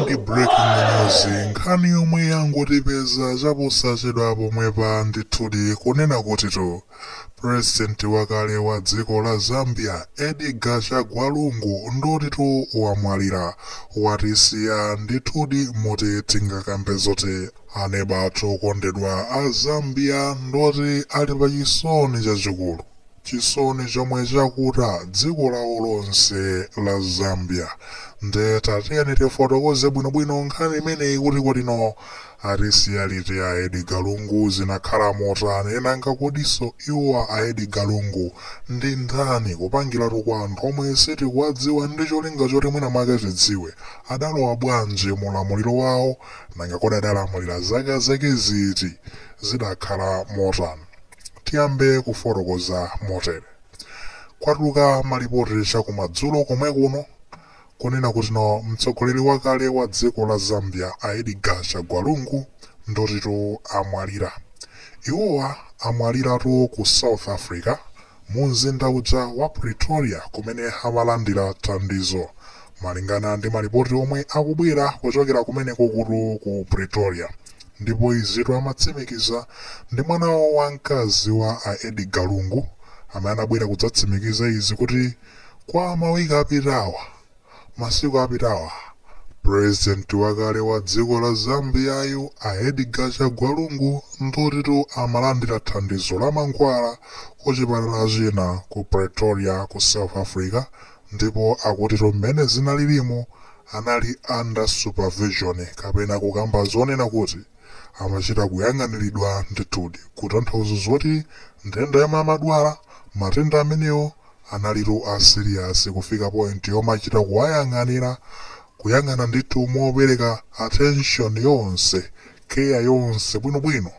ndi breaking news nkhani yomwe yangotipeza chaposachedwa pomwepa ndithudi kunena kutitu president wakale wa dziko la zambia edgar chagwa lungu ndotitu wamwalira watisiya ndithudi moti tingakambe zoti aneba athu okondedwa a zambia ndoti ali pa chisoni chachikulu Chisoni chomwe chakuta dziko lawo lonse la Zambia nde tatiyeni tifotokoze bwino bwino nkhani imeneyi kuti kodino atisiya liti a Edgar Lungu zinakhala motani nanga kodiso iwo a Edgar Lungu ndi ndani kupangiratu kwa anthu omwe sitikuwadziwa ndi cholinga choti mwina mwake tidziwe adalowa bwanji mu ulamuliro wawo nanga kodi adalamulira zaka zake ziti zidakhala motani Tiyambe kufotokoza motere. Kwatuluka malipoti chakumadzulo komwe kuno kunena kutino mtsogoleri wakale wa dziko la Zambia a Edgar Chagwa Lungu ndotitu amwalira. Iwowa amwaliratu ku South Africa mu mzinda uja wa Pretoria kumene amalandira thandizo malingana ndi malipoti omwe akubwera kuchokera kumenekokutu ku Pretoria. Ndipo izitu amatsimikiza ndi mwana wawo wa mkazi wa a Edgar Lungu amene anabwera kudzatsimikiza izi kuti kwa ma week apitawa, masiku apitawa, president wakale wa dziko la Zambia yu a Edgar Chagwa Lungu ndiotitu amalandira thandizo la mankhwala ku chipatala china ku Pretoria ku South Africa Ndipo akutitu mmene zinalilimo anali under supervision kapena kukamba zonena kuti amachita kuyang'aniridwa ndithudi kutanthauza zoti nthenda yomwe amadwala matenda amenewo analitu a serious kufika point yomachita kuwayang'anira kuyang'ana ndithu mopereka attention yonse care yonse bwinobwino.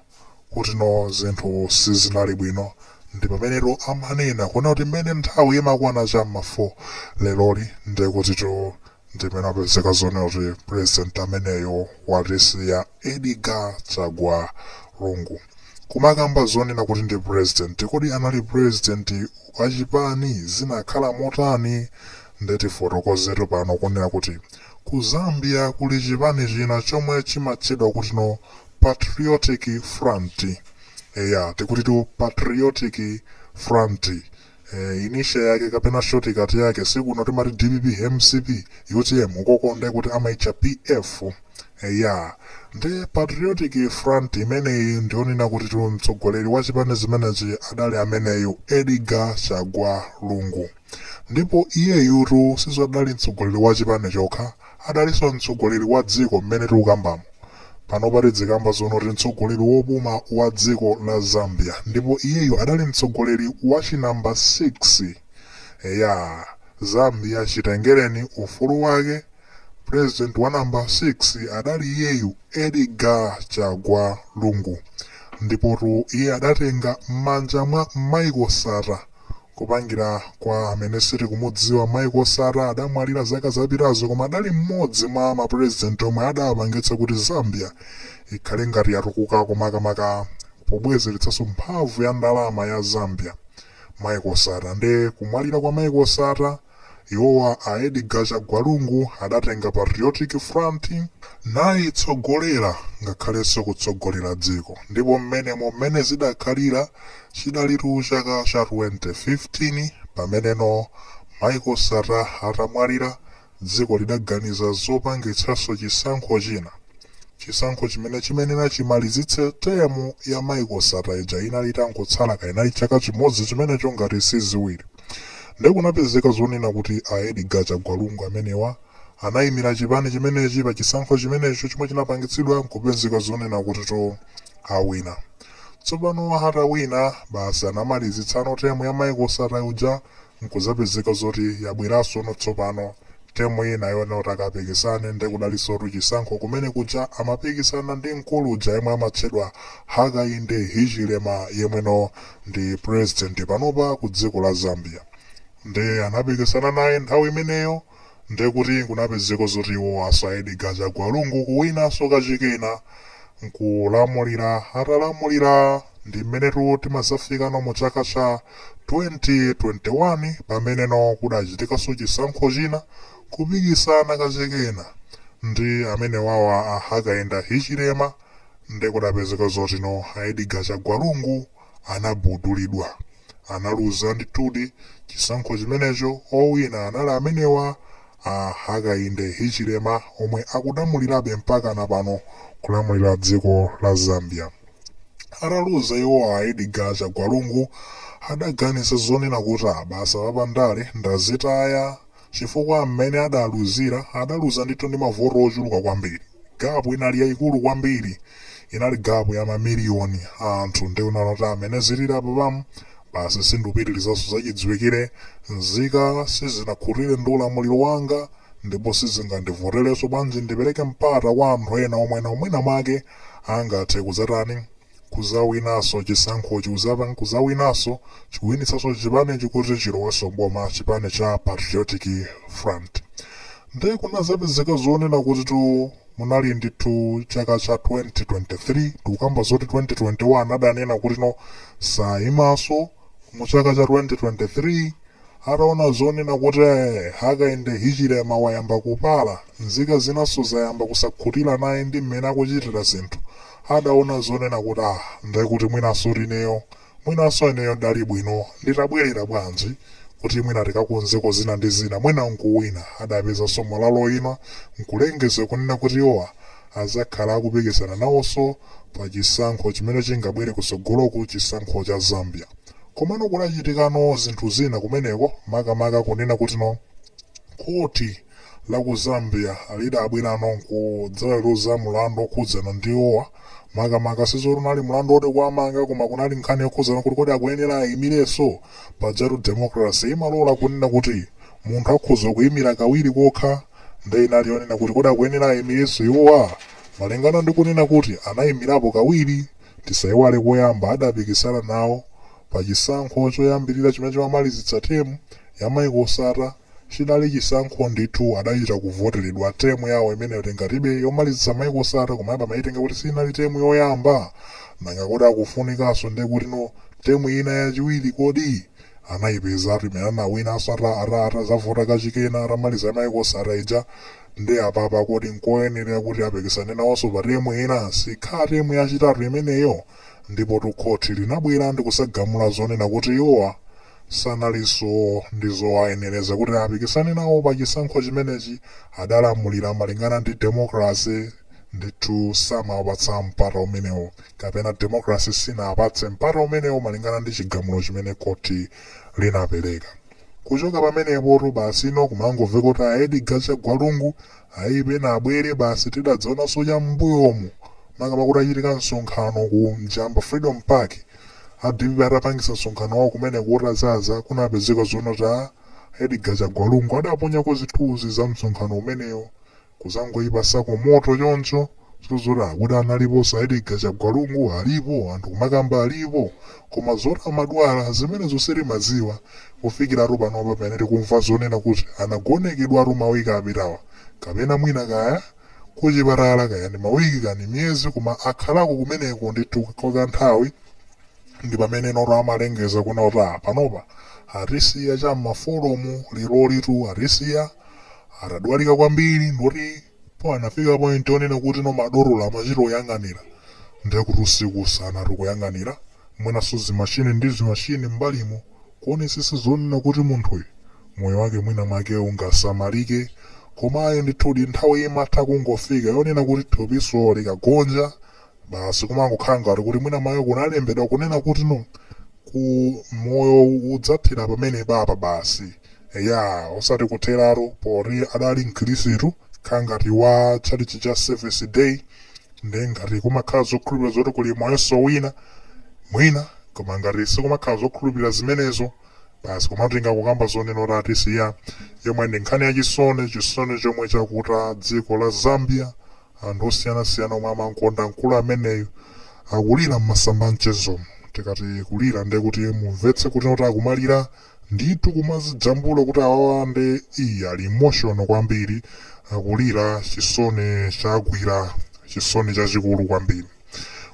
kutino zinthu sizinali bwino ndipamenetu amanena kuna kuti mmene nthawi imakwana cha mma 4 leroli ndekutitu ndimene apezeka zonena kuti president ameneyo watisiya edgar chagwa lungu kumakamba zonena kuti ndi president kodi anali president wachipani zinakhala motani nde tifotokozetu pano kunena kuti ku zambia kuli chipani china chomwe chimatchedwa kutino Patriotic Front. Eya, tikutitu Patriotic Front. Initial yake kapena shortcut yake sikuno timati dpp mcp utm ukoko nde kuti amaitcha pf eya nde patriotic front imeneyi ndionena kutitu mtsogoleri wa chipani chimenechi adali ameneyu edgar chagwa lungu Ndipo iyeyutu sizo adali mtsogoleri wa chipani chokha, adalinso mtsogoleri wa dziko mmene tikukambamo. Panopa tidzikamba zoona kuti mtsogoleri wopuma wa dziko la Zambia ndipo iyeyu adali mtsogoleri wa chi number 6. Eya, Zambia chitengereni ufulu wake, president wa number 6 adali iyeyu Edgar Chagwa Lungu. Ndipotu iye adatenga mmanja mwa Michael Sata Kupangira kwa amene sitikumudziwa Michael Sata adamwalira zaka zapitazo koma adali mmodzi mwa ma president omwe adapangitsa kuti Zambia ikhale ngati yatukuka komakamaka pobwezeretsaso mphamvu ya ndalama ya Zambia Michael Sata nde kumwalira kwa Michael Sata Iwowa a Edgar Chagwa Lungu adatenga Patriotic Front nayitsogolera ngakhalenso kutsogolera dziko ndipo mmenemo mmene zidakhalira chidalitu chaka cha 2015 pameneno Michael Sata atamwalira dziko lidaganiza zopangitsanso chisankho china. Chisankho chimene chimenela chimalizitse term ya Michael Sata ija inali itangotsala kaya inali chaka chimodzi chimenecho ngati si ziwiri. Nde kunapezeka zonena kuti a Edgar Chagwa Lungu amenewa anaimira chipani chimenechi pa chisankho chimenecho chomwe chinapangitsidwa nkupezeka zonena kutitu awina. Tsopano atawina basi anamalizitsano term ya Michael Sata uja nkuzapezeka zoti yabwerasono tsopano term ina yonena kuti akapikisane nde kudalinsotu chisankho kumene kuja amapikisana ndi mkulu uja yemwe amatchedwa Hakainde Hichilema yemweno ndi president panopa ku dziko la Zambia nde anapikisana naye nthawi imeneyo nde kuti kunapezeka zoti iwo a Edgar Chagwa Lungu kuwinaso kachikena nkulamulira atalamulira ndi mmenetu timazafikano mu chaka cha 2021 pameneno kudachitikaso chisankho china kupikisana kachikena ndi amenewawa a Hakainde Hichilema Nde kudapezeka zotino a Edgar Chagwa Lungu anagubudulidwa. Analuza ndithudi chisankho chimenecho owina anali amenewa a Hakainde Hichilema omwe akulamulilabe mpakana pano kulamulila dziko la Zambia. Ataluza iwo a Edgar Chagwa Lungu adaganiza zonena kuti basi apapa ndale ndazitaya. chifukwa mmene adaluzira adaluza ndithu ndi mavoti ochuluka kwambiri, gap inali yaikulu kwambiri, inali gap ya mamiliyoni a anthu, nde anaona kuti ah mmene zilili apapamu basi sindupitirizanso, zachidziwikire nzika sizinakhutire ndi ulamuliro wanga ndipo sizingandivoterenso, bwanji ndipereke mpata kwa anthu ena omwe nawo mwina mwake angathe kudzatani, kuzawinaso chisankhochi uzapang kuzawinaso chikuwinitsaso chipanechi kuti chiloweso mboma chipani cha patriotic front nde kunazapezeka zonena kutitu munali ndithu chaka cha 2023 tukamba zoti 2021 adanena kuti no sayimaso muchaka cha 2023 Ataona zonena kuti Hakainde Hichilema wayamba kupala, nzika zinanso zayamba kusakhutira naye ndi mmene akuchitira zinthu, adaona zonena kuti ah, nde kuti mwinansotu ineyo, mwinanso ineyo ndidali bwino nditabwerera bwanji kuti mwina tikakonzeko zina ndi zina mwina nkuwina, adapezanso malo oima nkulengeza kunena kuti iwowa adzakhala akupikisana nawonso pachisankho chimene chingabwere kutsogoloku, chisankho cha Zambia. Komano kudachitikano zinthu zina kumeneko makamaka kunena kuti no khoti la ku Zambia lidabwerano nkudzaweruza mulandu okhudzana ndi iwowa makamaka sizoti unali mulandu oti kuwamanga koma kunali nkhani yokhudzana kuti kodi akuyenera ayimirenso? Pajatu democracy imalola kunena kuti munthu akhoza kuyimira kawiri kokha nde inali yonena kuti kodi akuyenera ayimirenso iwowa malingana ndi kunena kuti anayimirapo kawiri? Tisaiwale koyamba adapikisana nawo pa chisankho choyambilira chimene chimamalizitsa term ya Michael Sata, chidali chisankho ndithu adachita kuvoteredwa term yawo imeneyo tingatibe yomalizitsa Michael Sata koma abe amaitenga kuti siinali term yoyamba? Nanga kodi akufunikaso ndekutino term ina yachiwiri kodi? Anaipezatu imene anawinaso ata ata atazavota kachikenanso atamaliza ya Michael Sata ija. nde apapa kodi nkoyenera kuti apikisane nawoso pa term ina? Sikhala term yachitatu imeneyo? Ndipotu khothi linabwera ndikuzagamula zonena kuti iwowa sanaliso ndi zowayenereza kuti apikisane nawo pa chisankho chimenechi, adalamulira malingana ndi democracy ndithu samawapatsa mpata umenewo kapena democracy siinawapatse mpata umenewo malingana ndi chigamulo chimene khothi linapereka. Kuchoka pamenepotu basino kumangoveka kuti a Edgar Chagwa Lungu ayi pena abwere basi tidadzaonanso cham'mbuyomu makamaka kutachitika msonkhano ku Njamba Freedom Park a dpp atapangitsa msonkhano wawo kumeneko utadzaza kunapezeka zonena kuti a Edgar Chagwa Lungu adaponyako zithunzi za msonkhano umenewo Kuzangoikapo kamoto choncho, so zoti akuti analipo sa Edgar Chagwa Lungu alipo anthu kumakamba alipo koma zoti amadwala zimenezo sitimadziwa kufikiratu panopa pamene tikumva zonena kuti anagonekedwatu ma week apitawa kapena mwina kaya Ku chipatala kaya ndi ma week kani miyezi koma akhalako kumeneko ndithu kwa ka nthawi ndipamenenotu amalengeza kunena kuti aah panopa atisiya cha m'ma folo mu lerolitu atisiya atadwalika kwambiri ndikuti po anafika point onena kuti no madotolo amachita oyang'anira ndiye kuti usiku usana tikuyang'anira mwinanso zimashini ndi zimashini mbalimo kuonesesa zonena kuti munthuyu moyo wake mwina mwake ungasamalike koma ayi ndithudi nthawi imatha kungofika yonena kuti thupiso likagonja Basi kumangokhala ngati kuti mwina mmayo kunalembedwa kunena kuti no ku moyo udzathera pamene papa basi eya osati kutheratu poti adali mkhilisitu kha ngati wa tchalitchi cha Seventh Day nde ngati kumakhala zokhulupirira zoti kuli moyonso wina mwina koma ngati sikumakhala zokhulupirira zimenezo basi komatu tingangokamba zonena kuti atisiya yomwe ndi nkhani ya chisoni chisoni chomwe chakuta dziko la Zambia Anthu osiyanasiyana omwe amamkonda mkulu ameneyu akulira mmasamba a mchezomu. Tikati kulira nde kuti mumvetse kuti not akumalira ndithu kumazijambula kuti awawa nde ii ali emotional kwambiri akulira chisoni chagwira chisoni chachikulu kwambiri.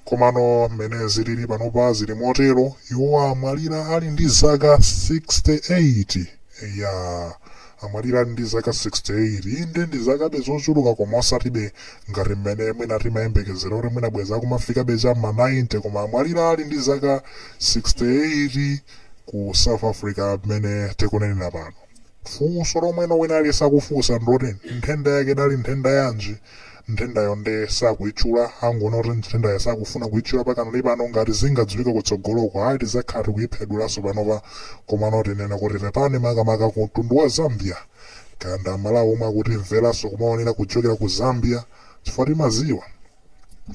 Komano mmene zilili panopa zili motero, iwo amwalira ali ndi zaka 68. Eya, amwalira ali ndi zaka 68. Inde ndi zakabe zochuluka koma osatibe ngati mmene mwina timayembekezera kuti mwina bwenzi akumafikabe cha m'ma 90 koma amwalira ali ndi zaka 68 ku South Africa mmene tikunenera pano. Funso lomwe wina aliyense akufunsa ndi loti, nthenda yake idali nthenda yanji? Nthendayo nde sakuitchula, angonena kuti nthendayo sakufuna kuitchula pakanali pano, ngati zingadziwike kutsogoloko ayi tidzakhala tikuiphwedulaso panopa komano tinene kuti pepani makamaka ku mtundu wa Zambia kaya ndi amalawi omwe akutimvelaso kumaonera kuchokera ku Zambia chifukwa timaziwa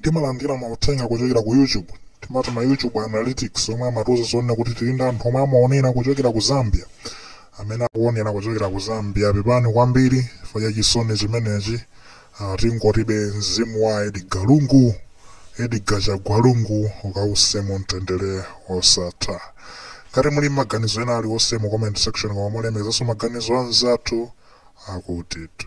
timalandila mauthenga kuchokera ku YouTube timati ma YouTube analytics omwe amatiuza zonena kuti tili ndi anthu omwe amaonera kuchokera ku Zambia Amene akuonera kuchokera ku Zambia pepani kwambiri chifukwa cha chisoni chimenechi. Ah, tingotibe mzimu wa Edgar Lungu, Edgar Chagwa Lungu ukause mu mtendere wosatha. Ngati muli maganizo ena aliwonse mu comment section koma mulemekezenso maganizo anzathu akutitu.